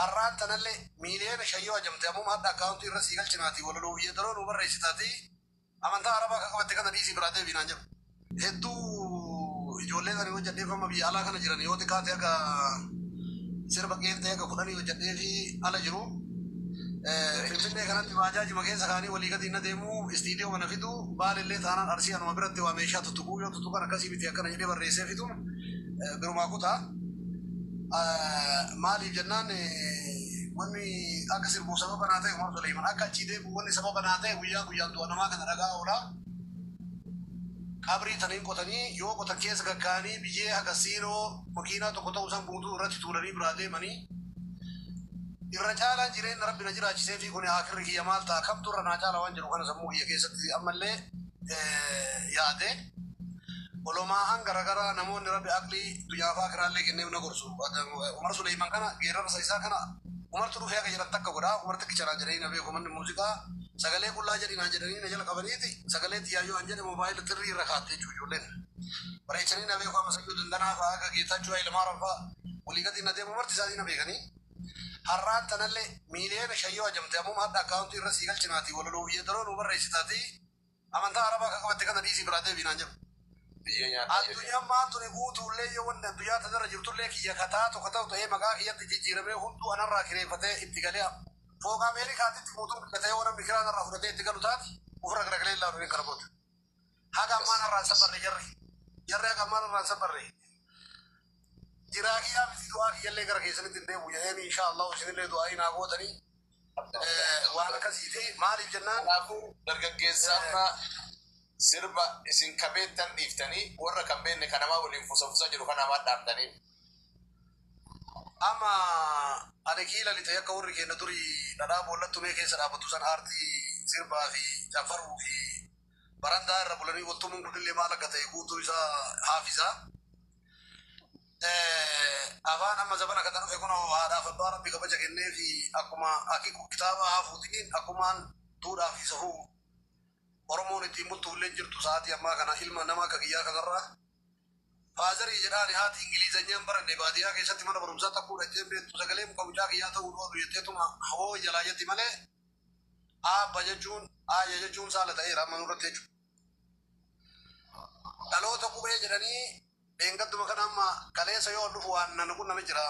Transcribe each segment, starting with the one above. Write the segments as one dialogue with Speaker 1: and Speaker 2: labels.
Speaker 1: Arraan tanalle miiliyoona shan yoo hajamte ammuma hadha akkaawuntii irra sii galchinaatii walaloofi yeedaloo nuu barreessitaatii amantaa arabaa ka qabatte kana dhiisii biraa deebii naan jedhu. Hedduu ijoolleen ani hojjadheef amma biyya alaa kana jiran yoo xiqqaate haga sirba qeenxee haga kudhanii hojjadheefii ala jiru. Finfinnee kanatti baajaajima keessa kaanii walii gadi inna deemuu istiidiyooma na fiduu Baalellee taanaan Arsii anuma biratti waa meeshaa tuttuquu yoo tuttuqan akkasii miti akkana jedhee barreessee fiduun birumaa kutaa. Maaliif jennaan wanni akka sirbuuf sababa naa ta'e Umar Suleeyman akka achii deebi'u wanni sababa naa ta'e guyyaa guyyaan du'a namaa kana dhaga'aa oola. Qabrii tan hin qotanii yoo qotan keessa gaggaa'anii biyyee haga siinoo makiinaa tokko ta'u san guutuu irratti tuulanii biraa deemanii irra caalaan jireenna Rabbi na jiraachiseefii kuni aakhirri kiyya maal ta'a kamtu irra naa caala waan jedhu kana sammuu kiyya keessatti ammallee yaade olomaahan garagaraa namoonni rabbi aqlii dunyaaf akiraallee kenneef na gorsu umar suleyman kana geerarsa isaa kana umartu dhufee akka jedhan takka godha umar takkicha naan jedhanii na beeku manni muuziqaa sagalee qullaa jedhi naan jedhanii na jala qabaniiti sagalee xiyyaayoo an jedhe moobaayila xirrii irra kaatte jechuu ijoolleen bareechanii na beeku amma sayyuu dandanaa fa'aa akka geetaachuu ilmaaran fa'aa walii gadi na deemu marti isaanii na beekanii Har'aan tanalle miiliyoona shan yoo hajamte ammuma hadha akkaawuntii irra sii galchinaatii walaloofi yeedaloo nuu barreessitaatii amantaa arabaa ka qabatte kana dhiisii biraa deebii naan jedhu. Addunyammaan tuni guutuullee yoo wanni addunyaa tanarra jirtullee kiyya ka taatu ka ta'u ta'ee maqaa kiyyatti jijjiiramee hunduu anarraa kireeffatee itti galee fooqa Ameerikaatitti guutuun bitatee yoo namni kiraa narraa fudhatee itti galu taate ufirra garagalee hin laalu nin kana booda. Haga ammaa narraan safarre jarri. Jarri haga ammaa narraan safarre. Jiraa kiyyaa miti du'aa kiyyallee gara keessanitti hin deebi'u jedheen inshaa Allahu isinillee du'aa'ii naa gootanii eh, waan akkasii fi maaliif jennaan Kanaafuu dargaggeessa
Speaker 2: amma sirba isin kabeettan dhiiftanii warra kan beekne kanamaa waliin fusafusa jiru kanaa maal dhaamtanii?
Speaker 1: Amma ani kii lalite akka warri keenya duri dhadhaa boollatti tumee keessa dhaabatu san aartii sirbaa fi caffaruu fi barandaa irra bulanii wal tumuun kunillee maal akka ta'e guutuu isaa haafisa. Afaan amma zabana kana dhufe kunoo haadhaaf abbaa rabbi kabaja kennee fi akkuma akiku kitaaba haafuutiin akkumaan duudhaa fi safuu Oromoon ittiin bultuullee jirtu sa'aatii ammaa kana ilma nama akka kiyyaa kanarraa Faazarii jedha ani haati ingilizanya hin baranne baadiyaa keessatti mana barumsaa takkuu dhaqxee hin beektu sagalee muka mucaa kiyyaa ta'uun oolu jetteetuma hawoo jalaa jetti malee aabba jechuun aayya jechuun saala ta'eera amma nurratti jechuudha. Dhaloota qubee jedhanii dheengadduma kana amma kaleessa yoo ol dhufu waan nan qunname jira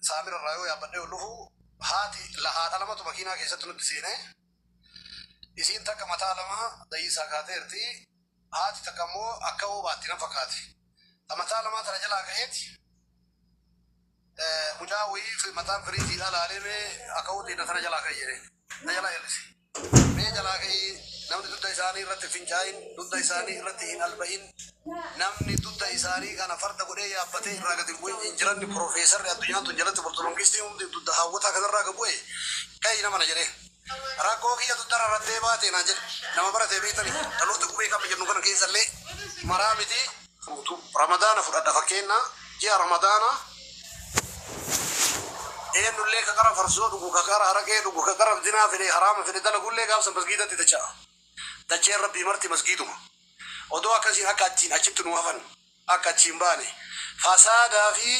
Speaker 1: saamira irraa yoo yaabbadhee ol dhufu haati lahaadha lamatu makiinaa keessatti nutti seenee Isiin takka mataa lama dhayiinsaa kaateerti, haati takka ammoo akka woo baatti na fakkaate. Ta mataa lamaa tana jalaa ka'eeti mucaa woyii mataan firiijiidhaa laalee mee akawuu tiyya tana jalaa ka'i jedheen. Na jalaa hir'ise. Mee jalaa ka'ii namni dudda isaanii irratti hin fincaa'in, dudda isaanii irratti hin alba'in, Namni dudda isaanii kana farda godhee yaabbatee irraa gad hin bu'in hin jiranne Pirofeesarri addunyaan tun jalatti bultu Mangistiin hundi dudda haawwataa kanarraa gad bu'e ka'i nama na jedhee. Rakkoo kiyya dudda rarrattee baate naan jedhe. Nama barate beektanii? Dhaloota qubee qabna jennu kana keessallee maraa miti. Guutuu Ramadaana fudhadha fakkeenna ji'a Ramadaanaa eennullee ka qara farsoo dhugu, ka qara haraqee dhugu, ka qara dinaa fedhe haraama fedhe dalagullee gaaf san masgiidatti dacha'a. Dacheen Rabbii marti masgiiduma. Odoo akkasiin akka achiin achitti nuu hafan, akka achii hin baane, fasaadaa fi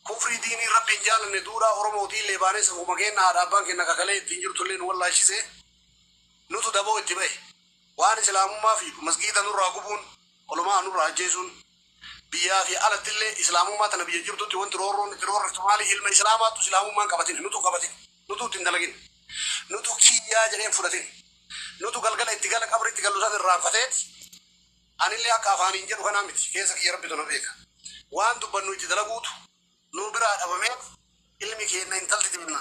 Speaker 1: kufrii diiniin Rabbi hin jaalanne duudhaa Oromootiillee baanee safuma keenna haadha abbaan keenna ka kalee ittiin jirtullee nu wallaashise, nutu daboo itti bahe. Waan Islaamummaa fiigu, masgiida nurraa gubuun, uluma'a nurraa ajjeesuun, biyyaa fi alattillee Islaamummaa tana biyya jirtutti wanti roorroon itti roorriftu maali? Ilma Islaamaattu Islaamummaa hin qabatine, nutu hin qabatine. Nutu itti hin dalagin. Nutu kiyyaa jedhee hin fudhatin. Nutu galgala itti gala qabrii itti gallu san irraanfateeti. Anillee akka afaaniin jedhu kanaa miti. Keessa kiyya Rabbitu na beeka. Waan dubbannu itti dalaguutu nu biraa dhabamee ilmi keenna intalti teenna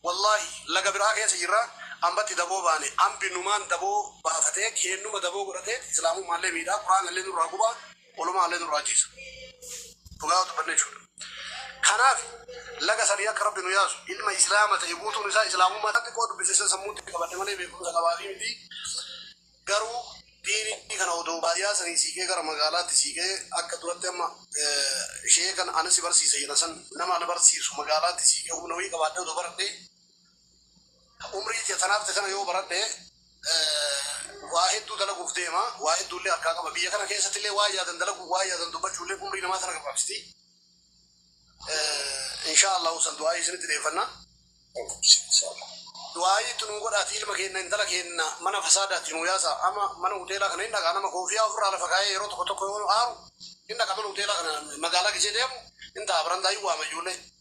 Speaker 1: wallaahi laga biraa keessa jirra ambatti daboo baane ambi numaan daboo baafatee keennuma daboo godhateeti islaamummaallee miidhaa quraanallee nurraa gubaa Walumaa illee nurraa ajjeessa. Dhugaa yoo dubbanne jechuudha. Kanaaf laga sadii akka Rabbi nu yaasu ilma Islaama ta'e guutuun isaa Islaamummaa irratti xiqqoo dubbisiisan sammuutti qabadhe malee beekumsa qabaafii miti. Garuu diinii kana odoo baadiyyaa sanii siiqee gara magaalaatti siiqee akka duratti amma eh, ishee kan ana si barsiisa jedhan san nama ana barsiisu magaalaatti siiqee humna wayii qabaadhee odoo baradhee Umrii kiyya tan hafte tana yoo baradhe waa hedduu dalaguuf deema, waa hedduullee harkaa qaba. Biyya kana keessattillee waan yaadan dalaguun, waan yaadan dubbachuulleen umrii namaa tana gabaabsiti. Inshaa Allaahu san du'aa'ii isinitti dheeffanna. Du'aa'ii itti nuu godhaatii ilma keenna, intala keenna mana fasaadaatii nuu yaasaa. Amma mana huteelaa kana hin dhaqa, nama koofiyaa ufirraa lafa kaayee yeroo tokko tokko yoo aaru hin dhaqa mana huteelaa kana magaalaa gizee deemu hin taa'a barandaa hin waama ijoollee.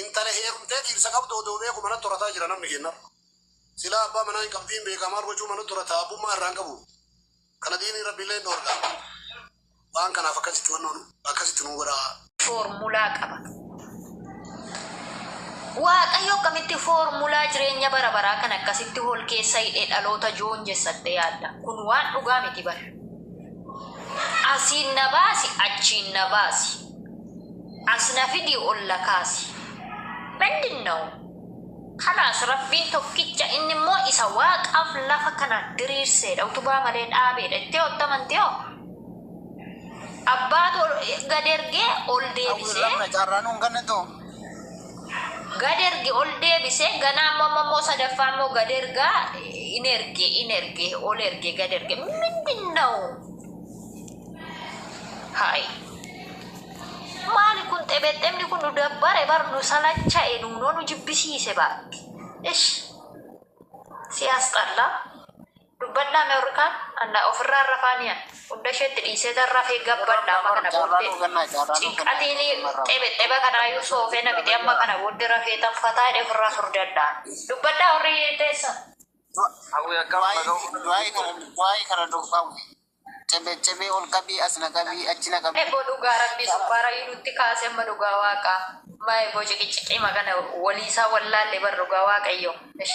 Speaker 1: Intala heerumtee dhiirsa qabdu odoo beeku manatti horataa jira namni keenna. Silaa abbaa manaa hin qabdu hin beekaa maal gochuu manatti horata abbummaa irraa hin qabu. Kana diiniin Rabbiillee hin dhoorga. Waan kanaaf akkasitti wannoon akkasitti nuu godhaa. foormulaa
Speaker 3: qaba. Waaqayyo akkamitti foormulaa jireenya bara baraa kan akkasitti hol keessa hidhee dhaloota joon jessattee yaadda. Kun waan dhugaa miti bar. Asiin na baasi, achiin na baasi. Asi na fidi olla kaasi. Mindinnaw? Khalaas Rabbiin tokkicha inni immoo isa waaqaaf lafa kana diriirseedha utubaa malee dhaabeedha jettee otti amanti hoo? Abbaatu gad ergee ol deebisee. Gad erge ol deebise ganaa immoo amma immoo sadaffaa immoo gad ergaa in erge in erge ol erge gad erge mindinnaw? Hai. Maali kun xebexemni kun nu dabbare bar nu salacha'e nuunoo nu jibbisiise baatti. Ish. Siyaas xallaa. Dubbadhaa mee warri kaan anna ofirraa rafaanii an hunda isheetti dhiisee tan rafee gabbadha amma kana booddee cinqatiin xebexeba kanaayyuu soofee na fixee amma kana booddee rafee tan fataa jedhee ofirraa furdadha. Dubbadhaa warri teessan. Hawwi
Speaker 4: akkam Du'aayi nagaa du'aayi kana du'aayi kana du'aayi. Cebe cebe ol qabii as na qabii achi na qabii. Ebo dhugaa rabbii
Speaker 3: sukkaarayyuu nutti kaase amma dhugaa waaqaa. Maa eboo ciqiciqii magana wolii isaa wallaalle bar dhugaa waaqayyoo ish.